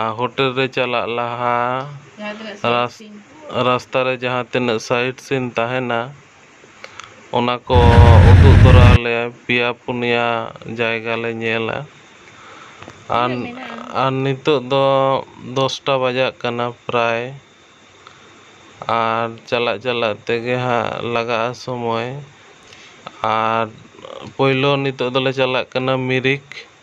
ᱟᱨ hotel ᱨᱮ ᱪᱟᱞᱟᱜ ᱞᱟᱦᱟ ᱨᱟᱥᱛᱟ ᱨᱮ ᱡᱟᱦᱟᱸ ᱛᱤᱱᱟᱹᱜ ᱥᱟᱭᱤᱴ ᱥᱤᱱ ᱛᱟᱦᱮᱸᱱᱟ ᱚᱱᱟ ᱠᱚ ᱩᱫᱩᱜ ᱫᱚᱨᱟ ᱟᱞᱮᱭᱟᱭ ᱯᱮᱭᱟ ᱯᱩᱱᱭᱟ ᱡᱟᱭᱜᱟ ᱞᱮ ᱧᱮᱞᱟ ᱟᱨ ᱟᱨ ᱱᱤᱛᱚᱜ ᱫᱚ ᱫᱚᱥᱴᱟ ᱵᱟᱡᱟᱜ ᱠᱟᱱᱟ ᱯᱨᱟᱭ ᱟᱨ ᱪᱟᱞᱟᱜ ᱪᱟᱞᱟᱜ ᱛᱮᱜᱮ ᱦᱟᱸᱜ ᱞᱟᱜᱟᱜᱼᱟ ᱥᱚᱢᱚᱭ ᱟᱨ ᱯᱳᱭᱞᱳ ᱱᱤᱛᱚᱜ ᱫᱚᱞᱮ ᱪᱟᱞᱟᱜ ᱠᱟᱱᱟ ᱢᱤᱨᱤᱠ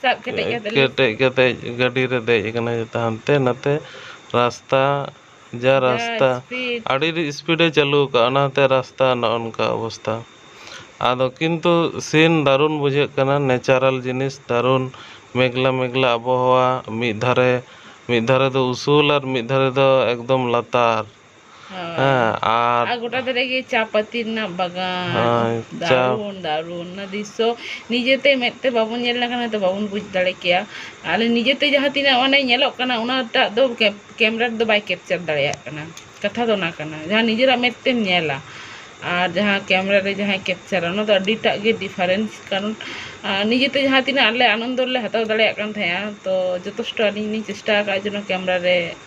ᱥᱟᱵ ᱠᱮᱴᱮᱡ ᱠᱟᱛᱮ ᱞᱮ ᱠᱮᱴᱮᱡ ᱠᱟᱛᱮ ᱜᱟᱹᱰᱤ ᱨᱮ ᱫᱮᱡ ᱟᱠᱟᱱᱟ ᱡᱚᱛᱚ ᱦᱟᱱᱛᱮ ᱱᱟᱛᱮ ᱨᱟᱥᱛᱟ ᱡᱟ ᱡᱟ ᱨᱟᱥᱛᱟ ᱥᱯᱤᱰ ᱟᱹᱰᱤ ᱤᱥᱯᱤᱰ ᱮ ᱪᱟᱹᱞᱩ ᱟᱠᱟᱫᱼᱟ ᱚᱱᱟ ᱦᱚᱛᱮ ᱨᱟᱥᱛᱟ ᱱᱚᱜᱼᱚ ᱱᱚᱝᱠᱟ ᱚᱵᱚᱥᱛᱟ ᱟᱫᱚ ᱠᱤᱱᱛᱩ ᱥᱤᱱ ᱫᱟᱨᱩᱱ ᱵᱩᱡᱷᱟᱹᱜ ᱠᱟᱱᱟ ᱱᱮᱪᱟᱨᱟᱞ ᱡᱤᱱᱤᱥ ᱫᱟᱨᱩᱱ ᱢᱮᱜᱽᱞᱟ ᱢᱮᱜᱽᱞᱟ ᱟᱵᱚᱦᱟᱣᱟ ᱢᱤᱫ ᱫᱷᱟᱨᱮ ᱢᱤᱫ ᱫᱷᱟᱨᱮ ᱫᱚ ᱩᱥᱩᱞ ᱟᱨ ᱢᱤᱫ ᱫᱷᱟᱨᱮ ᱫᱚ ᱮᱠᱫᱚᱢ ᱞᱟᱛᱟᱨ ᱦᱮᱸ ᱟᱨ ᱟᱨ ᱜᱚᱴᱟ ᱫᱷᱟᱨᱮ ᱜᱮ ᱪᱟ ᱯᱟᱹᱛᱤ ᱨᱮᱱᱟᱜ ᱵᱟᱜᱟᱱ ᱦᱮᱸ ᱪᱟ ᱫᱟᱨᱩᱱ ᱫᱟᱨᱩᱱ ᱚᱱᱟ ᱫᱨᱤᱥᱥᱚ ᱱᱤᱡᱮᱛᱮ ᱢᱮᱫ ᱛᱮ ᱵᱟᱵᱚᱱ ᱧᱮᱞ ᱞᱮᱠᱷᱟᱱ ᱦᱚᱭᱛᱳ ᱵᱟᱵᱚᱱ ᱵᱩᱡᱽ ᱫᱟᱲᱮ ᱠᱮᱭᱟ ᱟᱞᱮ ᱱᱤᱡᱮᱛᱮ ᱡᱟᱦᱟᱸ ᱛᱤᱱᱟᱹᱜ ᱚᱱᱮ ᱧᱮᱞᱚᱜ ᱠᱟᱱᱟ ᱚᱱᱟᱴᱟᱜ ᱫᱚ ᱠᱮᱢᱮᱨᱟ ᱨᱮᱫᱚ ᱵᱟᱭ ᱠᱮᱯᱪᱟᱨ ᱫᱟᱲᱮᱭᱟᱜ ᱠᱟᱱᱟ ᱠᱟᱛᱷᱟ ᱫᱚ ᱚᱱᱟ ᱠᱟᱱᱟ ᱡᱟᱦᱟᱸ ᱱᱤᱡᱮᱨᱟᱜ ᱢᱮᱫ ᱛᱮᱢ ᱧᱮᱞᱟ ᱟᱨ ᱡᱟᱦᱟᱸ ᱠᱮᱢᱮᱨᱟ ᱨᱮ ᱡᱟᱦᱟᱸᱭ ᱠᱮᱯᱪᱟᱨᱟ ᱚᱱᱟ ᱫᱚ ᱟᱹᱰᱤᱴᱟᱜ ᱜᱮ ᱰᱤᱯᱷᱟᱨᱮᱱᱥ ᱠᱟᱨᱚᱱ ᱱᱤᱡᱮᱛᱮ ᱡᱟᱦᱟᱸ ᱛᱤᱱᱟᱹᱜ ᱟᱞᱮ ᱟᱱᱚᱱᱫᱚ ᱞᱮ ᱦᱟᱛᱟᱣ ᱫᱟᱲᱮᱭᱟᱜ ᱠᱟᱱ ᱛᱟᱦᱮᱸᱜᱼᱟ ᱛᱚ ᱡᱚᱛᱷᱮᱥᱴᱚ ᱟᱹᱞᱤᱧ ᱞᱤᱧ ᱪᱮᱥᱴᱟ ᱟᱠᱟᱫᱼᱟ ᱡᱮᱱᱚ ᱠᱮᱢᱮᱨᱟ ᱨᱮ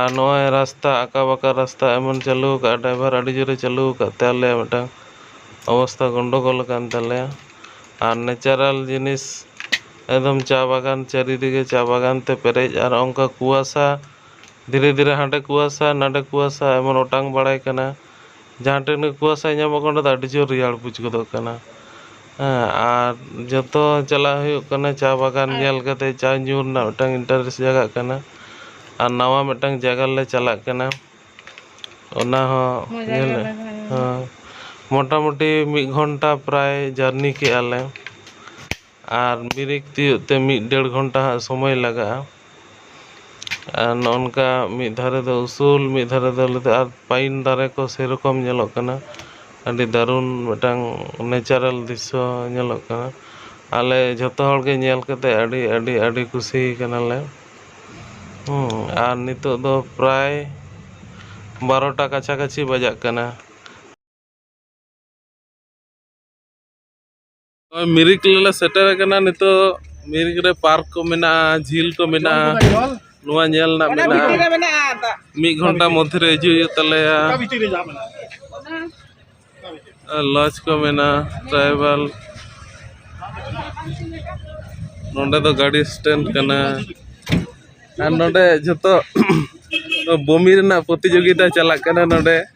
ᱟᱨ ᱱᱚᱜᱼᱚᱭ ᱨᱟᱥᱛᱟ ᱟᱸᱠᱟ ᱵᱟᱸᱠᱟ ᱨᱟᱥᱛᱟ ᱮᱢᱚᱱ ᱪᱟᱹᱞᱩ ᱟᱠᱟᱫᱼᱟ ᱰᱟᱭᱵᱷᱟᱨ ᱟᱹᱰᱤ ᱡᱳᱨᱮ ᱪᱟᱹᱞᱩ ᱟᱠᱟᱫ ᱛᱮ ᱟᱞᱮᱭᱟᱜ ᱢᱤᱫᱴᱟᱝ ᱚᱵᱚᱥᱛᱟ ᱜᱚᱱᱰᱚᱜᱚᱞ ᱟᱠᱟᱱ ᱛᱟᱞᱮᱭᱟ ᱟᱨ ᱱᱮᱪᱟᱨᱟᱞ ᱡᱤᱱᱤᱥ ᱮᱠᱫᱚᱢ ᱪᱟ ᱵᱟᱜᱟᱱ ᱪᱟᱹᱨᱤᱫᱤᱜᱮ ᱪᱟ ᱵᱟᱜᱟᱱ ᱛᱮ ᱯᱮᱨᱮᱡ ᱟᱨ ᱚᱱᱠᱟ ᱠᱩᱣᱟᱥᱟ ᱫᱷᱤᱨᱮ ᱫᱷᱤᱨᱮ ᱦᱟᱸᱰᱮ ᱠᱩᱣᱟᱥᱟ ᱱᱟᱰᱮ ᱠᱩᱣᱟᱥᱟ ᱮᱢᱚᱱ ᱚᱴᱟᱝ ᱵᱟᱲᱟᱭ ᱠᱟᱱᱟ ᱡᱟᱦᱟᱸ ᱴᱷᱮᱱ ᱜᱮ ᱠᱩᱣᱟᱥᱟ ᱧᱟᱢᱚᱜ ᱠᱟᱱᱟ ᱚᱸᱰᱮ ᱫᱚ ᱟᱹᱰᱤ ᱡᱳᱨ ᱨᱮᱭᱟᱲ ᱵᱩᱡᱽ ᱜᱚᱫᱚᱜ ᱠᱟᱱᱟ ᱦᱮᱸ ᱟᱨ ᱡᱚᱛᱚ ᱪᱟᱞᱟᱜ ᱦᱩᱭᱩᱜ ᱠᱟᱱᱟ ᱪᱟ ᱵᱟᱜᱟᱱ ᱧᱮᱞ ᱠᱟᱛᱮᱫ ᱪᱟ ᱧᱩ ᱨᱮᱱᱟᱜ ᱢᱤᱫᱴᱟᱱ ᱤᱱᱴᱟᱨᱮᱥᱴ ᱡᱟᱜᱟᱜ ᱠᱟᱱᱟ ᱟᱨ ᱱᱟᱣᱟ ᱢᱤᱫᱴᱟᱱ ᱡᱟᱭᱜᱟ ᱨᱮᱞᱮ ᱪᱟᱞᱟᱜ ᱠᱟᱱᱟ ᱚᱱᱟ ᱦᱚᱸ ᱧᱮᱞ ᱦᱮᱸ ᱢᱳᱴᱟᱢᱩᱴᱤ ᱢᱤᱫ ᱜᱷᱚᱱᱴᱟ ᱯᱨᱟᱭ ᱡᱟᱹᱨᱱᱤ ᱠᱮᱫᱼᱟ ᱞᱮ ᱟᱨ ᱵᱨᱮᱠ ᱛᱤᱭᱳᱜ ᱛᱮ ᱢᱤᱫ ᱰᱮᱲ ᱜᱷᱚᱱᱴᱟ ᱦᱟᱸᱜ ᱥᱚᱢᱚᱭ ᱞᱟᱜᱟᱜᱼᱟ ᱟᱨ ᱱᱚᱜᱼᱚ ᱱᱚᱝᱠᱟ ᱢᱤᱫ ᱫᱷᱟᱨᱮ ᱫᱚ ᱩᱥᱩᱞ ᱢᱤᱫ ᱫᱷᱟᱨᱮ ᱫᱚ ᱞᱮᱫᱚ ᱟᱨ ᱯᱟᱭᱤᱱ ᱫᱟᱨᱮ ᱠᱚ ᱥᱮ ᱨᱚᱠᱚᱢ ᱧᱮᱞᱚᱜ ᱠᱟᱱᱟ ᱟᱹᱰᱤ ᱫᱟᱹᱨᱩᱱ ᱢᱤᱫᱴᱟᱝ ᱱᱮᱪᱟᱨᱮᱞ ᱫᱨᱤᱥᱥᱚ ᱧᱮᱞᱚᱜ ᱠᱟᱱᱟ ᱟᱞᱮ ᱡᱷᱚᱛᱚ ᱦᱚᱲ ᱜᱮ ᱧᱮᱞ ᱠᱟᱛᱮᱫ ᱟᱹᱰᱤ ᱟᱹᱰᱤ ᱟᱹᱰᱤ ᱠᱩᱥᱤ ᱠᱟᱱᱟ ᱞᱮ ᱟᱨ ᱱᱤᱛᱚᱜ ᱫᱚ ᱯᱨᱟᱭ ᱵᱟᱨᱚᱴᱟ ᱠᱟᱪᱷᱟ ᱠᱟᱹᱪᱷᱤ ᱵᱟᱡᱟᱜ ᱠᱟᱱᱟ ᱱᱚᱜᱼᱚᱭ ᱢᱤᱨᱤᱠ ᱨᱮᱞᱮ ᱥᱮᱴᱮᱨ ᱟᱠᱟᱱᱟ ᱱᱤᱛᱚᱜ ᱢᱤᱨᱤᱠ ᱨᱮ ᱯᱟᱨᱠ ᱠᱚ ᱢᱮᱱᱟᱜᱼᱟ ᱡᱷᱤᱞ ᱠᱚ ᱢᱮᱱᱟᱜᱼᱟ ᱱᱚᱣᱟ ᱧᱮᱞ ᱨᱮᱱᱟᱜ ᱢᱮᱱᱟᱜᱼᱟ ᱢᱤᱫ ᱜᱷᱚᱱᱴᱟ ᱢᱚᱫᱽᱫᱷᱮ ᱨᱮ ᱦᱤᱡᱩᱜ ᱦᱩᱭᱩᱜ ᱛᱟᱞᱮᱭᱟ ᱞᱚᱡᱽ ᱠᱚ ᱢᱮᱱᱟᱜᱼᱟ ᱴᱨᱟᱭᱵᱟᱞ ᱱᱚᱰᱮ ᱫᱚ ᱜᱟᱹᱰᱤ ᱥᱴᱮᱱᱰ ᱠᱟᱱᱟ ᱟᱨ ᱱᱚᱰᱮ ᱡᱚᱛᱚ ᱵᱚᱢᱤ ᱨᱮᱱᱟᱜ ᱯᱨᱚᱛᱤᱡᱳᱜᱤᱛᱟ ᱪᱟᱞᱟᱜ ᱠᱟᱱᱟ ᱱᱚᱰᱮ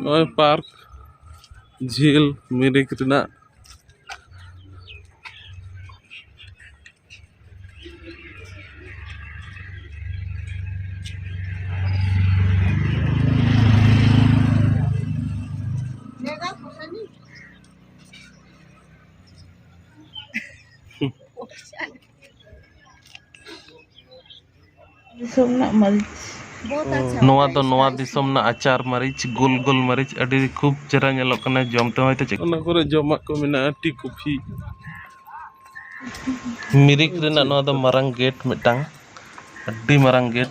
ᱱᱚᱜᱼᱚᱭ ᱯᱟᱨᱠ ᱡᱷᱤᱞ ᱢᱤᱨᱤᱠ ᱨᱮᱱᱟᱜ ᱫᱤᱥᱚᱢ ᱨᱮᱱᱟᱜ ᱢᱟᱹᱨᱤᱪ ᱱᱚᱣᱟ ᱫᱚ ᱱᱚᱣᱟ ᱫᱤᱥᱚᱢ ᱨᱮᱱᱟᱜ ᱟᱪᱟᱨ ᱢᱟᱹᱨᱤᱪ ᱜᱳᱞ ᱜᱳᱞ ᱢᱟᱹᱨᱤᱪ ᱟᱹᱰᱤ ᱠᱷᱩᱵ ᱪᱮᱦᱨᱟ ᱧᱮᱞᱚᱜ ᱠᱟᱱᱟ ᱡᱚᱢ ᱛᱮᱦᱚᱸ ᱦᱚᱭᱛᱳ ᱪᱮᱫ ᱚᱱᱟ ᱠᱚᱨᱮ ᱡᱚᱢᱟᱜ ᱠᱚ ᱢᱮᱱᱟᱜᱼᱟ ᱴᱤ ᱠᱚᱯᱷᱤ ᱢᱤᱨᱤᱠ ᱨᱮᱱᱟᱜ ᱱᱚᱣᱟ ᱫᱚ ᱢᱟᱨᱟᱝ ᱜᱮᱴ ᱢᱤᱫᱴᱟᱝ ᱟᱹᱰᱤ ᱢᱟᱨᱟᱝ ᱜᱮᱴ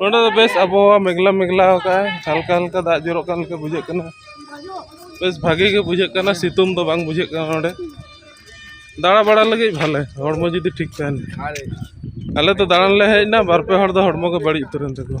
ᱱᱚᱰᱮ ᱫᱚ ᱵᱮᱥ ᱟᱵᱚᱦᱟᱣᱟ ᱢᱮᱜᱽᱞᱟ ᱢᱮᱜᱽᱞᱟ ᱟᱠᱟᱫᱟᱭ ᱦᱟᱞᱠᱟ ᱦᱟᱞᱠᱟ ᱫᱟᱜ ᱡᱚᱨᱚᱜ ᱠᱟᱱ ᱞᱮᱠᱟ ᱵᱩᱡᱷᱟᱹᱜ ᱠᱟᱱᱟ ᱵᱮᱥ ᱵᱷᱟᱜᱮ ᱜᱮ ᱵᱩᱡᱷᱟᱹᱜ ᱠᱟᱱᱟ ᱥᱤᱛᱩᱝ ᱫᱚ ᱵᱟᱝ ᱵᱩᱡᱷᱟᱹᱜ ᱠᱟᱱᱟ ᱱᱚᱰᱮ ᱫᱟᱬᱟ ᱵᱟᱲᱟ ᱞᱟᱹᱜᱤᱫ ᱵᱷᱟᱞᱮ ᱦᱚᱲᱢᱚ ᱡᱩᱫᱤ ᱴᱷᱤᱠ ᱛᱟᱦᱮᱱ ᱟᱞᱮ ᱫᱚ ᱫᱟᱬᱟᱱ ᱞᱮ ᱦᱮᱡ ᱮᱱᱟ ᱵᱟᱨ ᱯᱮ ᱦᱚᱲ ᱫᱚ ᱦᱚᱲᱢᱚ ᱜᱮ ᱵᱟᱹᱲᱤᱡ ᱩᱛᱟᱹᱨᱮᱱ ᱛᱟᱠᱚᱣᱟ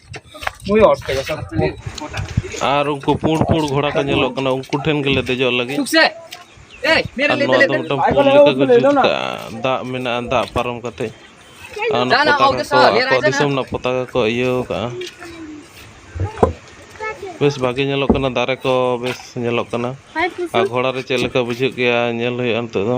ᱟᱨ ᱩᱱᱠᱩ ᱯᱩᱸᱰ ᱯᱩᱸᱰ ᱜᱷᱚᱲᱟ ᱠᱚ ᱧᱮᱞᱚᱜ ᱠᱟᱱᱟ ᱩᱱᱠᱩ ᱴᱷᱮᱱ ᱜᱮᱞᱮ ᱫᱮᱡᱚᱜ ᱞᱟᱹᱜᱤᱫ ᱟᱨ ᱱᱚᱣᱟ ᱫᱚ ᱢᱤᱫᱴᱟᱝ ᱯᱩᱞ ᱞᱮᱠᱟ ᱠᱚ ᱡᱩᱛ ᱠᱟᱜᱼᱟ ᱫᱟᱜ ᱢᱮᱱᱟᱜᱼᱟ ᱫᱟᱜ ᱯᱟᱨᱚᱢ ᱠᱟᱛᱮ ᱟᱨ ᱚᱱᱟ ᱯᱚᱛᱟᱠᱟ ᱠᱚ ᱟᱠᱚᱣᱟᱜ ᱫᱤᱥᱚᱢ ᱨᱮᱱᱟᱜ ᱯᱚᱛᱟᱠᱟ ᱠᱚ ᱤᱭᱟᱹ ᱠᱟᱜᱼᱟ ᱵᱮᱥ ᱵᱷᱟᱜᱮ ᱧᱮᱞᱚᱜ ᱠᱟᱱᱟ ᱫᱟᱨᱮ ᱠᱚ ᱵᱮᱥ ᱧᱮᱞᱚᱜ ᱠᱟᱱᱟ ᱟᱨ ᱜᱷᱚᱲᱟ ᱨᱮ ᱪᱮᱫ ᱞᱮᱠᱟ ᱵᱩᱡᱷᱟᱹᱜ ᱜᱮᱭᱟ ᱧᱮᱞ ᱦᱩᱭᱩᱜᱼᱟ ᱱᱤᱛᱚᱜ ᱫᱚ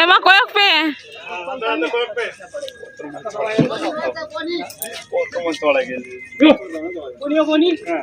ᱮᱢᱟ ᱠᱚᱭᱚᱜ ᱯᱮ ᱦᱮᱸ